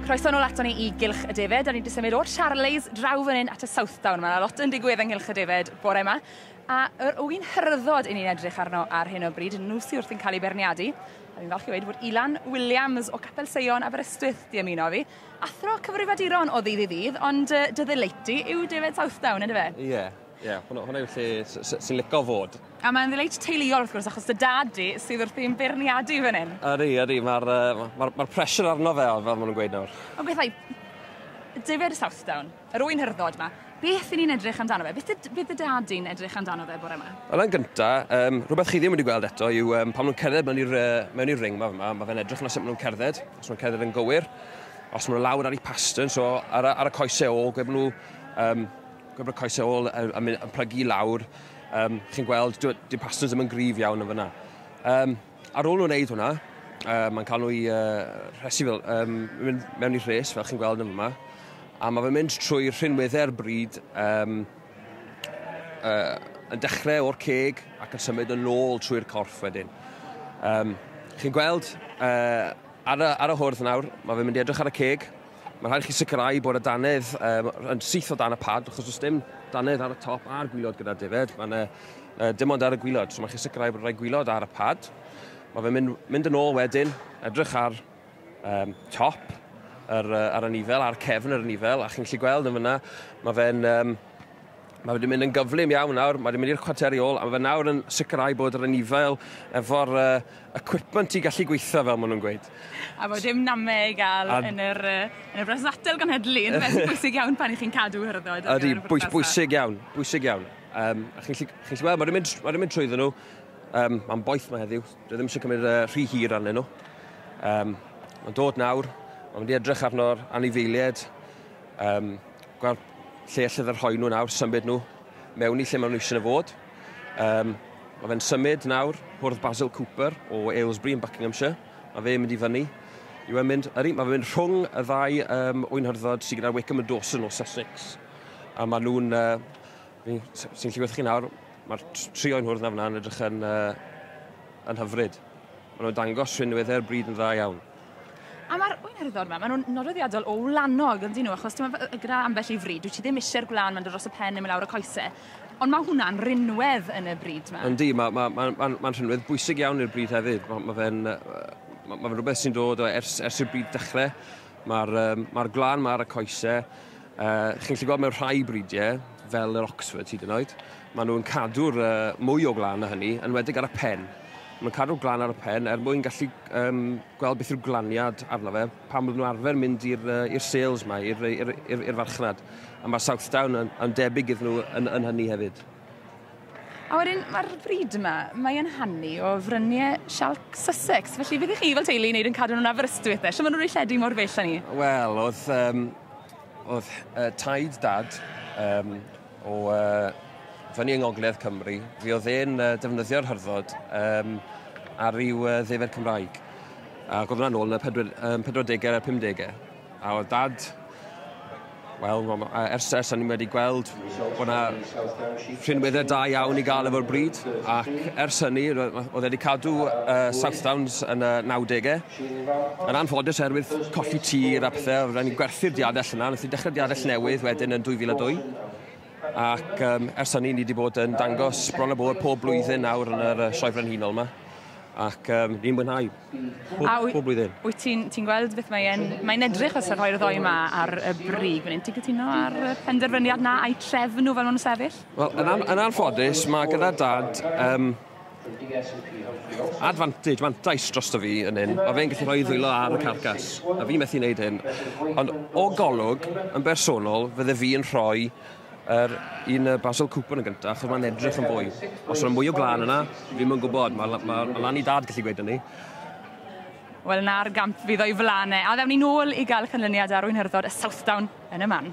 Croeso nôl ato ni i Gylch y Defaid. Da ni wedi symud o'r Charleys draw fan hyn at y Southdown. Mae yna lot yn digwydd yng Nghylch y Defaid bore yma. A yr ŵyn hyrddod i ni'n edrych arno ar hyn o bryd, nhw sydd wrth yn cael ei berniadu. A fi'n falch i wedi bod Ilan Williams o Capel Seion Aberystwyth di ymuno fi. Athro cyfrifaduron o ddydd i ddydd, ond uh, dy ddeleiti yw Defaid Southdown, ynddo fe? Ie. Yeah. Ie, yeah, hwnna, hwnna yw'r lle sy'n lico fod. A mae'n ddileit teuluol wrth gwrs, achos dy dad di sydd wrth i'n beirniadu fan hyn. Ydy, ydy, mae'r uh, ma, ma pressure arno fe, fel maen nhw'n gweud nawr. O bethau, David Southdown, yr wy'n hyrddod yma, beth i ni'n edrych amdano fe? Beth y dy dad di'n edrych amdano fe bore yma? Wel, yn gynta, um, rhywbeth chi ddim wedi gweld eto yw um, pan nhw'n cerdded mewn i'r uh, ring yma, yma mae fe'n edrych yna sut maen nhw'n cerdded, os maen nhw'n cerdded yn gywir, os maen nhw'n lawr ar ei pastern, so ar, ar y coesau o, gwe maen nhw um, Gwybod coesau ôl yn, yn, yn plygu i lawr. Um, chi'n gweld, dyw pastors ddim yn gryf iawn yn fyna. Um, ar ôl nhw'n wneud hwnna, uh, mae'n cael nhw'i uh, rhesu fel, um, mynd mewn i rhes, fel chi'n gweld yn yma. A mae fe'n mynd trwy rhinweddau'r bryd, um, uh, yn dechrau o'r ceg ac yn symud yn ôl trwy'r corff wedyn. Um, chi'n gweld, uh, ar, y, ar y hwrdd nawr, mae fe'n mynd i edrych ar y ceg, Mae'n rhaid i chi sicrhau bod y dannedd um, yn syth o dan y pad, achos os dim dannedd ar y top a'r gwylod gyda'r defaid, mae'n uh, dim ond ar y gwylod. So mae'n chi sicrhau bod rhai gwylod ar y pad. Mae fe'n mynd, mynd yn ôl wedyn, edrych ar um, top, ar, uh, ar y nifel, ar cefn yr nifel, a chi'n gallu gweld yn fyna, mae fe'n um, Mae wedi mynd yn gyflym iawn nawr, mae wedi mynd i'r chwarteri ôl, a mae fe nawr yn sicrhau bod yr anifail efo'r uh, equipment i gallu gweithio fel maen nhw'n gweud. A bod dim namau i gael a... yn yr, yn y bres atel ganhedlu, yn beth bwysig iawn pan i chi'n cadw hyrddod. Ydy, bwys, bwysig iawn, bwysig iawn. Um, a chi'n gallu gweld, mae wedi mynd, mae wedi mynd trwy nhw, um, mae'n boeth mae heddiw, dwi ddim eisiau cymryd uh, rhy hir arnyn nhw. Um, mae'n dod nawr, mae'n mynd i edrych arno'r anifeiliaid, um, gweld lle allai fe rhoi nhw nawr, symud nhw mewn i lle maen nhw eisiau nhw fod. Um, mae fe'n symud nawr, hwrdd Basil Cooper o Aylesbury yn Buckinghamshire. Mae fe'n mynd i fyny. Yw e'n mynd, ydy, mae fe'n mynd rhwng y ddau um, o'i nhyrdod sydd gyda Wickham a Dawson o Sussex. A maen nhw'n, uh, sy'n lliwedd chi nawr, mae'r tri o'n hwrdd na fyna yn edrych yn, uh, yn hyfryd. Maen nhw'n dangos rhywun newydder bryd yn dda iawn. A mae'r wynerddo yma, maen nhw'n nodweddiadol o wlanog, yn dyn nhw, achos ti'n meddwl, gyda ambell i fri, dwi ti ddim eisiau'r gwlan mae'n dod dros y pen neu mae lawr y coesau, ond mae hwnna'n rinwedd yn y bryd yma. Yndi, mae'n ma, ma, ma, ma rhinwedd bwysig iawn i'r bryd hefyd. Mae ma fe'n ma, ma rhywbeth sy'n dod o ers, ers i'r bryd dechrau. Mae'r um, ma gwlan, mae'r y coesau. Uh, chi'n gallu gweld mewn rhai bridiau, fel yr Oxford hyd yn oed, Maen nhw'n cadw'r uh, mwy o glan na hynny, yn wedig ar y pen. Maen nhw'n cadw'r glan ar y pen er mwyn gallu um, gweld beth yw'r glaniad arno fe pan maen nhw'n arfer mynd i'r uh, sales yma, i'r farchnad. A mae Southdown yn, yn debyg iddyn nhw yn, yn hynny hefyd. A wedyn, mae'r bryd yma, mae'n hannu o fryniau sialc Sussex. Felly, beth i chi fel teulu i wneud yn cadw nhw'n Aberystwyth? Lle maen nhw'n rhoi lledu mor bell â ni? Wel, oedd, um, oedd uh, taid dad um, o fyny yng Ngogledd Cymru, fe oedd e'n defnyddio'r hyrddod um, ar ryw uh, ddefer Cymraeg. Ac oedd hwnna'n ôl yn y 40au a'r 50au. A oedd dad Wel, ers, ers ni'n wedi gweld bod yna rhinweddau da iawn i gael efo'r bryd, ac ers hynny, oedd wedi cadw uh, Southdowns yn y 90au, Yn anffodus oherwydd colli tir a pethe, ro'n ni'n gwerthu'r diadell yna, nes i dechrau diadell newydd wedyn yn 2002. Ac um, ers hynny ni wedi bod yn dangos bron a bod pob blwyddyn nawr yn yr Sioe Frenhinol yma. Ac um, ni'n mwynhau pob, a pob blwyddyn. Wyt ti'n ti gweld beth mae'n mae edrych os rhoi'r ddoi yma ar y brig? Mae'n ti'n cytuno ar y penderfyniad na a'i trefn nhw fel nhw'n sefyll? Wel, yn, an, yn anffodus, mae gyda dad um, Advantage, mantais drosto fi yn hyn, mae fe'n gallu rhoi ddwylo ar y carcas, a fi methu wneud hyn. Ond o golwg, yn bersonol, fydde fi yn rhoi yr un y Basil Cooper yn gyntaf, achos mae'n edrych yn fwy. Os yna mwy o glân yna, fi ddim yn gwybod, mae, mae, mae lan i dad gallu gweud hynny. Wel, na'r gamp fydd o'i flanau, a ddewn ni nôl i gael cynlyniad ar Wynhyrddod a Southdown yn y man.